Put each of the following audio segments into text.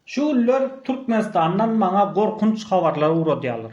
Şu günler Türkmenistandan maňa gorkunç habarlar ugradýarlar.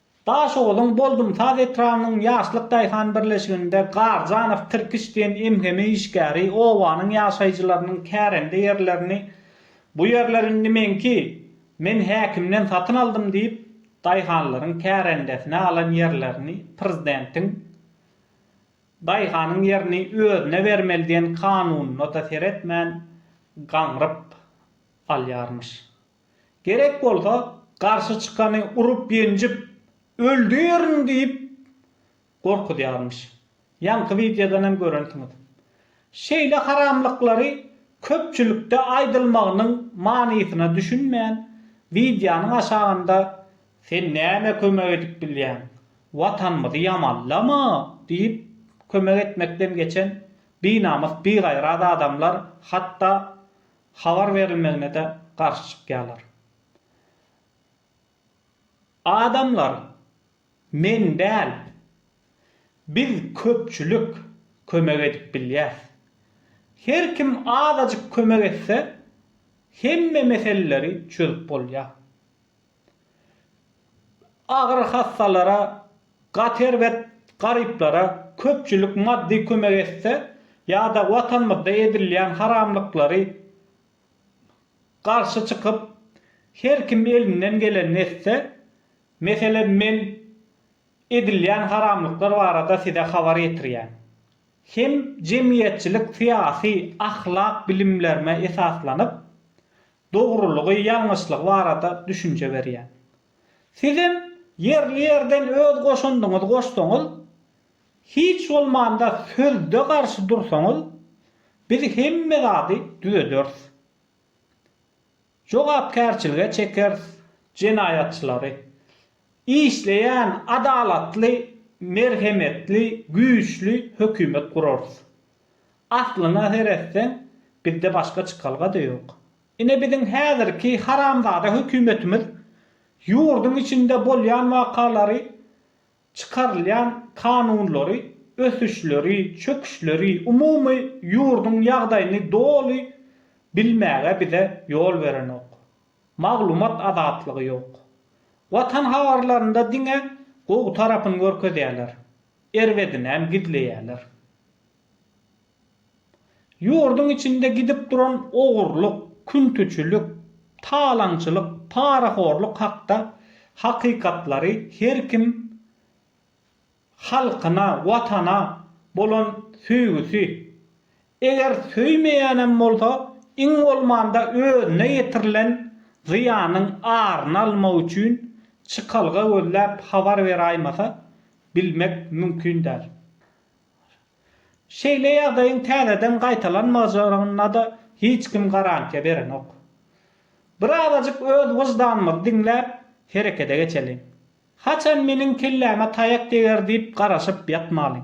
Daşoguzyň Boldumsaz etrabynyň Ýaşlyk daýhan birleşiginde Garjanow tirkiş diýen emheme işgäri obanyň ýaşaýjylarynyň kärende ýerlerini Bu ýerler indi meňki, men häkimden satyn aldym diýip, daýhanlaryň kärendesine alan ýerlerini prezidentiň Daýhanyň ýerini özüne bermeli diýen kanunyna-da seretmän gaňryp alýarmyş. Gerek bolsa, garşy çykany urup-ýenjip, öldürin diýip gorkuzýarmyş. Ýaňky wideodan hem görensiňiz. Şeýle haramlyklary köpçülikde aýdylmagynyň manysyna düşünmän, wideonyň aşagynda Sen näme kömek edip bilýäň? Watanymyzy ýamanlama! diýip, kömek etmekden geçen binamys bigaýrat adamlar hatda habar berilmegine-de garşy çykýarlar. Adamlar men däl, biz köpçülik kömek edip bilýäs. Her kim azajyk kömek etse, hemme meseleleri çözüp bolýar. Agyr hassalara, gaty erbet garyplara köpçülik maddy kömek etse ýa-da Watanymyzda edilýän haramlyklary garşy çykyp, her kim elinden gelenini etse, meselem men edilýän haramlyklar barada size habar ýetirýän. Hem jemgyýetçilik-syýasy, ahlak bilimlerime esaslanyp, dogrulygy, ýalňyşlygy barada düşünje berýän. Sizem ýerli ýerden öz goşandyňyzy goşsaňyz, hiç bolmanda sözde garşy dursaňyz, biz hemme zady düzederis. Jogapkärçilige çekeris jenaýatçylary. Işleýän adalatly, merhemetli, güýçli hökümet gurarys. Aslyna seretseň, bizde başga çykalga-da ýok. Ine biziň häzirki haramzada hökümetimiz ýurduň içinde bolýan wakalary, çykarylýan kanunlary, ösüşleri, çöküşleri, umumy ýurduň ýagdaýyny doly bilmäge bize ýol berenok. Maglumat azatlygy ýok. Watan habarlarynda diňe gowy tarapyny görkezýärler. Erbedinem gizleýärler. Ýurduň içinde gidip duran ogurlyk, küntüçilik, talaňçylyk, parahorlyk hakda hakykatlary her kim halkyna, Watana bolan söýgüsi, Eger söýmeýänem bolsa, iň bolmanda özüne ýetirilen zyýanyň aryny almak üçin çykalga gözläp habar beraýmasa, bilmek mümkin däl. Şeýle ýagdaýyň täzeden gaýtalanmajagynada hiç kim garantiýa berenok. Birazajyk öz wyždanymyzy diňläp, herekede geçeliň. Haçan meniň kelläme taýak deger diýip garaşyp ýatmalyň.